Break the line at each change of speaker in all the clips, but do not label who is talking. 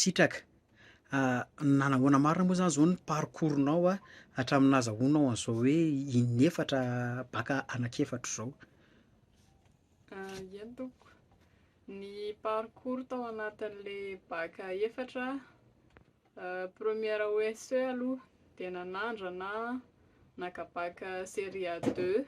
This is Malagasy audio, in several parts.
Sitraka. Nanahoana marina moa zany zao ny parcours nao hatramin'ny nazahoanao an'izao hoe in'efatra bac anak'efatra izao?
Ieny tompoko, ny parcours tao anatin'le bac efatra, première OSE aloha dia nanandrana naka bac série deux,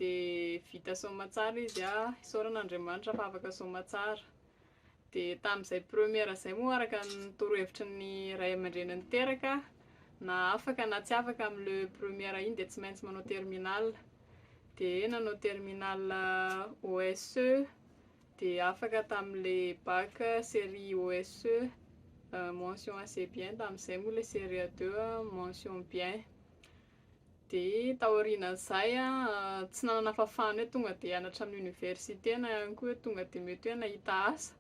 Dia vita soamatsara izy a, isaorana Andriamanitra fa afaka soamatsara. Dia tamin'izay première izay moa araka ny torohevitry ny ray aman-dreny niteraka, na afaka na tsy afaka amin'ny le première iny dia tsy maintsy manao terminale. Dia nanao terminale OSE, dia afaka tamin'ilay bac série OSE, mention assez bien, tamin'izay moa ilay série deux mention bien. Dia taorian'izay an, tsy nanana fahafahana hoe tonga dia hianatra amin'ny oniversite na ihany koa hoe tonga dia mety hoe nahita asa.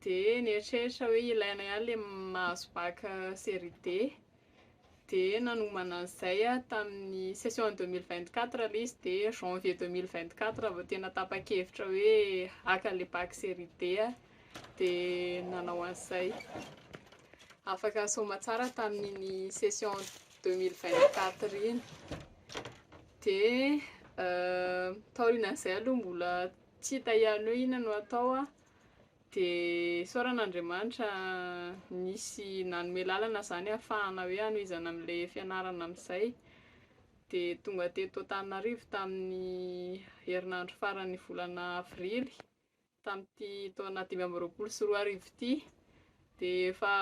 Dia nieritreritra hoe ilaina ihany ilay mahazo bac série D. Dia nanomana an'izay aho tamin'ny session deux mille vingt quatre ilay izy dia janvier deux mille vingt quatre vao tena tapa-kevitra hoe haka ilay bac série D aho. Dia nanao an'izay. Afaka nisaoma tsara tamin'iny session deux mille vingt quatre iny de taorianan'izay aloha mbola tsy hita ihany hoe inona no atao an, de isaoran'Andriamanitra nisy nanome lalana zany ahafahana hoe hanohizana an'le fianarana amin'izay, de tonga teto Antananarivo tamin'ny herinandro faran'ny volana avrily Tamin'ity taona dimy amby roapolo sy roa arivo ity dia efa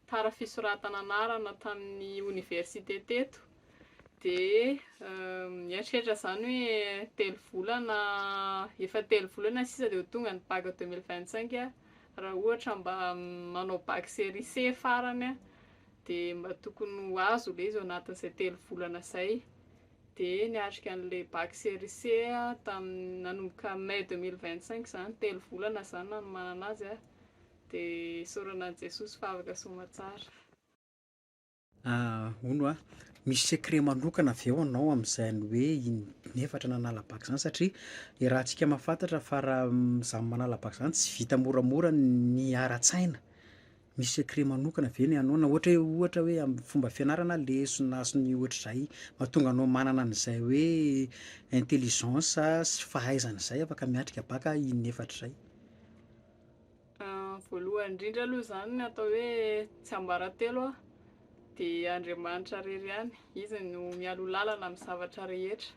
tara fisoratana anarana tamin'ny oniversite teto dia mieritreritra izany hoe telo volana efa telo volana sisa dia ho tonga ny bac 2025 aho raha ohatra mba manao bac série C farany aho dia mba tokony ho azo ilay izy ao anatin'izay telo volana izay dia niatrika an'ilay bac série C aho tamin'ny nanomboka mai deux mille vingt cinq izany, telo volana izany nanomanana azy aho, dia isaorana an'i Jesosy fa afaka soamantsara.
Hono hoa, misy secret manokana avy eo anao amin'izany hoe in'efatra nanala bac izany satria iarahantsika mahafantatra fa raha izany manala bac izany tsy vita moramora ny ara-tsaina. Misy secret manokana ve ny anao na ohatra hoe ohatra hoe amin'ny fomba fianarana lesona sy ny ohatr'izay mahatonga anao manana an'izay hoe intelligence sy fahaizana izay afaka miatrika bacc in'efatra izay?
Voalohany indrindra aloha izany ny atao hoe tsy ambaratelo an, dia Andriamanitra irery ihany, izy no mialoha lalana amin'ny zavatra rehetra.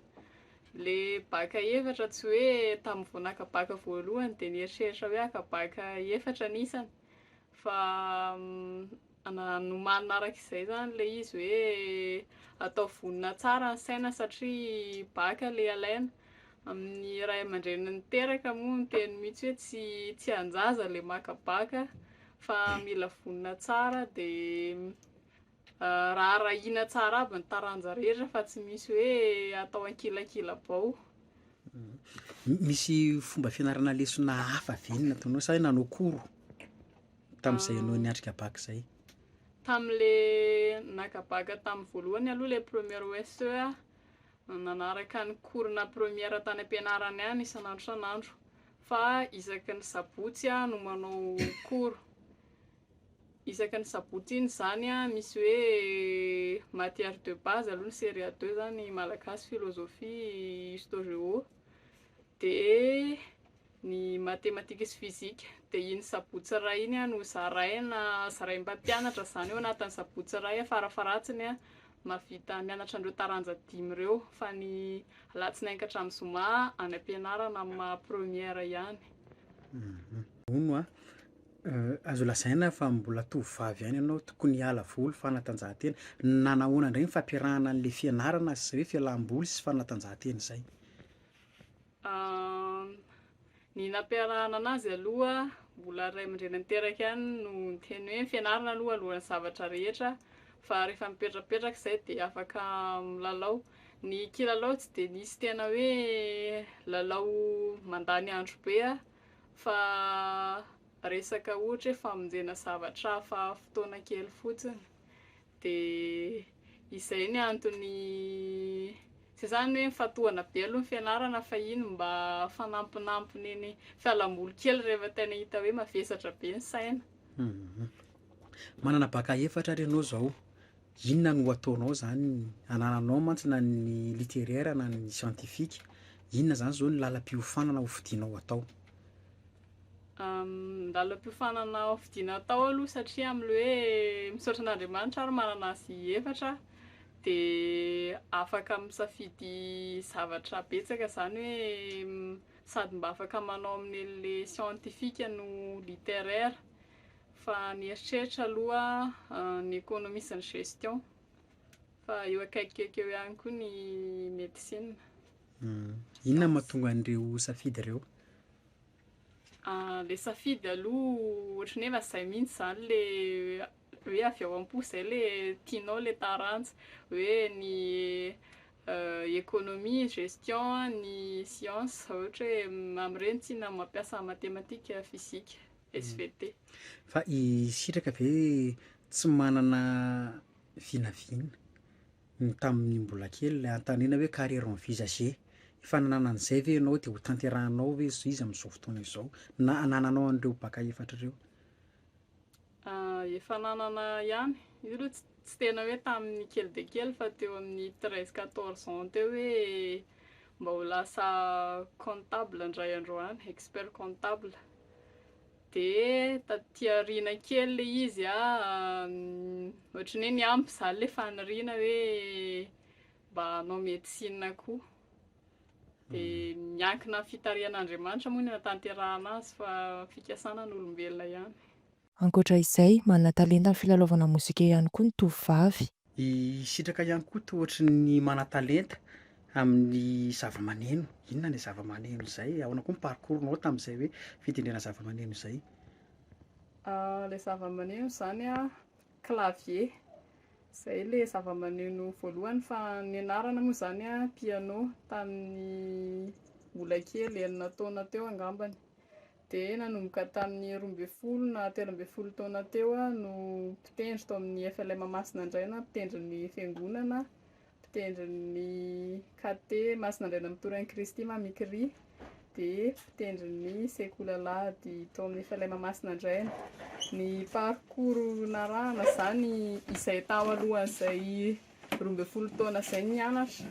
Ilay bacc efatra tsy hoe tamin'ny vao naka bacc voalohany dia nieritreritra hoe haka bacc efatra ny isany, fa nomanina araka izay zany le izy hoe atao vonona tsara ny saina satria baka le alaina amin'ny ray aman-dreny niteraka moa ny teny mihitsy hoe tsy tsy an-jaza le maka baka fa mila vonona tsara dia Raha arahina tsara aby ny taranja rehetra fa tsy misy hoe atao ankilakila-bao.
Misy fomba fianarana lesona hafa ve ny nataonao sa hoe nanao cours tamin'izay ianao niatrika bac izay? Tamin'le
naka bac tamin'ny voalohany aloha le première OSE aho, nanaraka ny cours na première tany am-pianarana ihany isan'andro isan'andro fa isaky ny sabotsy aho no manao cours. Isaky ny sabotsy iny izany misy hoe matière de base aloha ny serie a deux zany malagasy, philosophie, histo géo, de ny matematika sy fizika, de iny sabotsy iray iny no zaraina zarain'ny mpampianatra izany hoe anatin'ny sabotsy iray a fara faharatsiny a mahavita mianatra an'ireo taranja dimy ireo fa ny alatsinainy ka hatramin'ny zoma any am-pianarana amin'ny maha première ihany.
Hono a, Azo lazaina fa mbola tovovavy ihany ianao, tokony hiala voly, fanatanjahantena. Nanahoana indray ny fampiarahana an'ilay fianarana sy izay hoe fialam-boly sy fanatanjahantena izay?
Ny nampiarahana anazy aloha, mbola ray aman-dreny niteraka ihany no niteny hoe ny fianarana aloha alohan'ny zavatra rehetra fa rehefa mipetrapetraka izay dia afaka milalao. Ny kilalao tsy dia nisy tena hoe lalao mandany andro be aho fa resaka ohatra hoe famonjena zavatra hafa fotoana kely fotsiny dia izay ny antony izay zany hoe mifatohana be aloha ny fianarana fa iny mba fanampinampiny iny fialamboly kely rehefa tena hita hoe mavesatra be ny saina mhm. manana
baka efatra ary ianao izao Inona no ataonao zany? Anananao mantsy na ny littéraire na ny scientifique, inona zany zao ny lalam-piofanana ho fidinao atao? Ny
lalam-piofanana ho fidina atao aloha satria amin'ilay hoe misaotra an'Andriamanitra ary manana azy efatra aho dia afaka misafidy zavatra betsaka zany hoe sady mba afaka manao amin'ny an'ilay scientifique no littéraire. Fa nieritreritra aloha ny économie sy ny gestion. Fa eo akaikikaiky eo ihany koa ny médecine.
Inona no mahatonga an'ireo ho safidy ireo? Ilay
safidy aloha ohatran'ny hoe efa izay mihitsy izany ilay hoe avy ao am-po izay ilay tianao ilay taranja. Hoe ny économie, gestion, ny sciences, ohatra hoe amin'ireny tiana mampiasa matematika, fizika. svt. Fa i
sitraka ve tsy manana vinavina ny tamin'ny mbola kely le antanina hoe carrière envisagée efa nanana an'izay ve ianao de ho tanterahanao ve izy amin'izao fotoana izao na anananao an'ireo baka efatra ireo? Efa
nanana ihany, io aloha tsy tena hoe tamin'ny kely dia kely fa teo amin'ny treize quatorze ans teo hoe mba ho lasa comptable indray andro any, expert comptable Dia taty aoriana kely ilay izy an, ohatran'ny hoe niampy izany ilay faniriana hoe mba hanao médecine koa. Dia hmm. miankina amin'ny fitarihan'Andriamanitra moa ny hanatanterahana azy fa fikasana an'olombelona ihany. Ankoatra
izay, manana talenta amin'ny filalaovana mozika ihany koa ny tovovavy. I Sitraka
ihany koa toa ohatry ny manan-talenta amin'ny zavamaneno. Inona ilay zavamaneno izay? Ahoana koa ny parcours-nao tamin'izay hoe fitendrena zavamaneno izay?
Ilay zavamaneno izany an, clavier. Izay ilay zavamaneno voalohany fa nianarana moa izany an, piano, tamin'ny mbola kely, enina taona teo angambany. dia nanomboka tamin'ny roa ambin'ny folo na telo ambin'ny folo taona teo aho no mpitendry tao amin'ny FLM Masina Andraina, mpitendry ny fiangonana, mpitendry ny KT Masina Andraina Mitory an'i Kristy Mamikiri, dia mpitendry ny sekoly alahady tao amin'ny FLM Masina Andraina. Ny parcours narahana izany izay tao alohan'izay roa ambin'ny folo taona izay nianatra,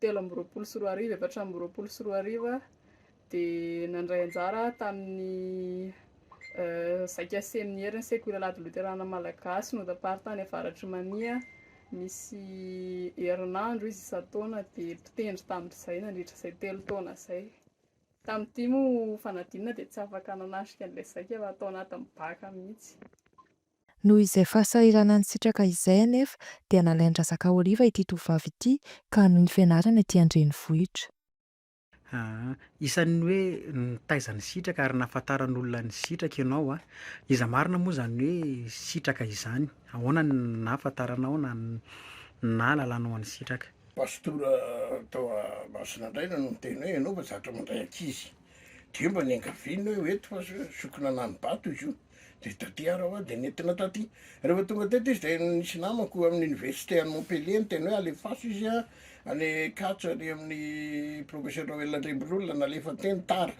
telo amby roapolo sy roa arivo, efatra amby roapolo sy roa arivo aho dia nandray anjara aho tamin'ny zaika seminerin'ny sekoly Alahady Loterana Malagasy notaparitany avaratr'i Mania misy herinandro izy isan-taona dia mpitendry tamin'izay nandritra izay telo taona izay. Tamin'ity moa fanadinana dia tsy afaka nanatrika an'ilay zaika fa tao anatin'ny bacc mihitsy. Noho
izay fahasahiranan'ny sitraka izay anefa dia nalain-dRazaka Oliva ity tovovavy ity ka nifianarana ety an-drenivohitra. Isan'ny
hoe nitaiza ny sitraka ary nahafantaran'olona ny sitraka ianao. Iza marina moa izany hoe sitraka izany? Ahoana no nahafantaranao na nahalalanao an'i sitraka? Pastora
tao Masinandraina no niteny hoe, ianao fa zatra mandray ankizy, dia mba niangaviana hoe ho eto fa sokina na ny bato izy io. dia taty ary aho dia nentina taty. Rehefa tonga teto izy dia nisy namako amin'ny université any Montpellier niteny hoe alefaso izy a, any Ankatso any amin'ny professeur Noël Andriambololona nalefa teny tara.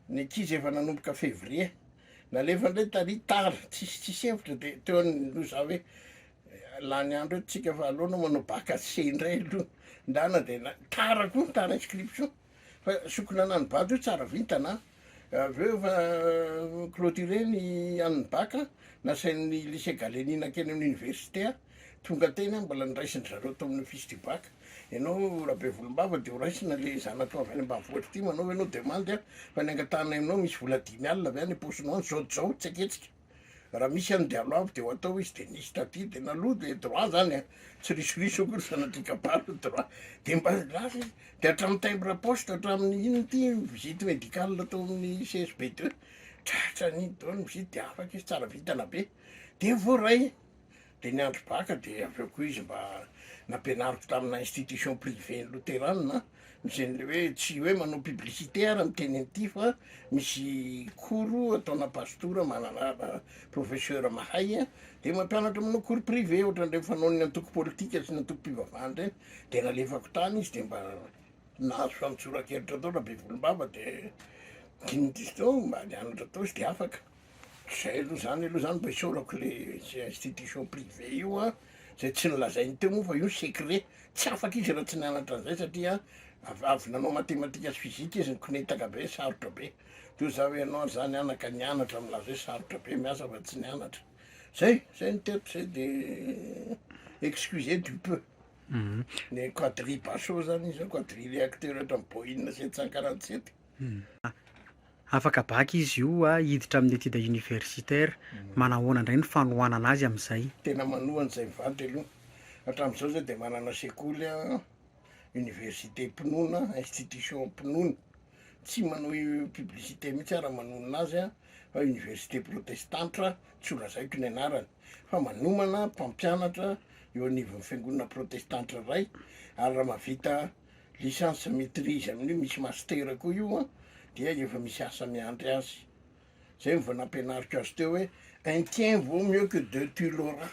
Ny ankizy efa nanomboka février. Nalefa indray tary tara, tsisy tsisy hevitra dia teo an'ny no za hoe lany andro eto tsika fa aleo anao manao bac HEC indray aloha ndana dia tara koa ny tara inscription. fa sokina anan'ny bado io tsara vintana a, avy eo efa clôturer ny an'ny bac a, nasain'ny lycée Galeni nankeny amin'ny université a, tonga teny a, mbola noraisin-dry zareo tao amin'ny office du bac, ianao Rabevolombava dia horaisina le zanatao avy any ambanivohitra ity, manaova ianao demande a, fa ny angatahanay aminao misy vola dimy alina avy any am-paosinao any, zao dia zao, tsy aketsika. Raha misy any dialogue avy dia ho atao izy dia nisy taty dia naloa dia droit zany a, tsy risoriso akory fa sanatria kabary droit dia mba lasa izy dia hatramin'ny timbre à poste hatramin'ny inona ity visite médicale atao amin'ny CSB deux, tratra an'iny daholo ny visite dia afaka izy tsara vintana be dia voaray. Dia ny andro baka dia avy eo koa izy mba nampianariko tamina institution privée loterana, izay le hoe tsy hoe manao publicité ary miteny an'ity fa misy cours ataona pastora manana professeur mahay a, dia mampianatra manao cours privé ohatran'ireny fanaon'ny antoko politika sy ny antokom-pivavahana ireny, dia nalefako tany izy dia mba nahazo famotsora-kevitra tao Rabevolombava dia dimy diso teo mba nianatra tao izy dia afaka. Zay aloha zany aloha zany mba isaorako le zay institution privée io a, zay tsy nilazainy teo moa fa io secret, tsy afaka izy raha tsy nianatra an'zay satria avy avy nanao matematika sy physique izy nikonetaka be sarotra be, toa za hoe ianao ary za nianaka nianatra milaza hoe sarotra be miasa fa tsy nianatra, zay zay ny tiako zay de excusez du peu. Ny quadri basso zany izy zany quadri le acteur ohatran'ny boina sy etsy sy ankaranty sy etsy.
Afaka bac izy io a hiditra amin'ny étude universitaire, manahoana indray ny fanohanana azy amin'izay? Tena manoha an'izay
mivadika aloha, hatramin'izao zao dia manana sekoly a, université mpinoana, institution mpinoana, tsy manao publicité mihitsy aho raha manonona azy a, fa université protestantre tsy ho lazaiko ny anarany, fa manomana mpampianatra eo anivon'ny fiangonana protestantre iray ary raha mahavita licence maitrise amin'io misy master koa io an, dia efa misy asa miandry azy, zay no vao nampianariko azy teo hoe un tien vaut mieux que deux tu l'auras,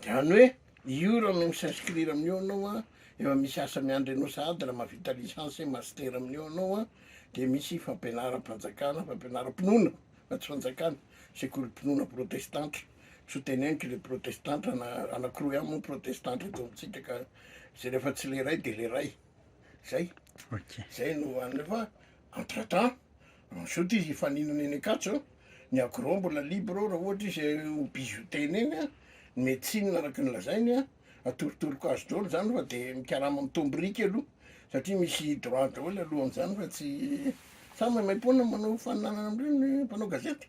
zany hoe io raha mi s'inscrire amin'io anao an, efa misy asa miandry anao sahady raha mahavita licence master amin'io anao an, dia misy fampianaram-panjakana, fampianaram-pinoana fa tsy fanjakana, sekolim-pinoana protestantra. tsy ho teneniko le protestanta na anakiroa ihany moa protestanta eto amintsika ka zay rehefa tsy le ray de le ray zay zay no any rehefa entre temps ensuite izy hifaninana eny akatso ny agro mbola libre ao raha ohatra izy ho bijoutena eny a ny médecine araka ny lazainy a atorotoroko azy daholo zany fa de mikarama mitombo biriky aloha satria misy droit daholo alohan'izany fa tsy samy maimaipoana manao faninanana am'ireny mpanao gazety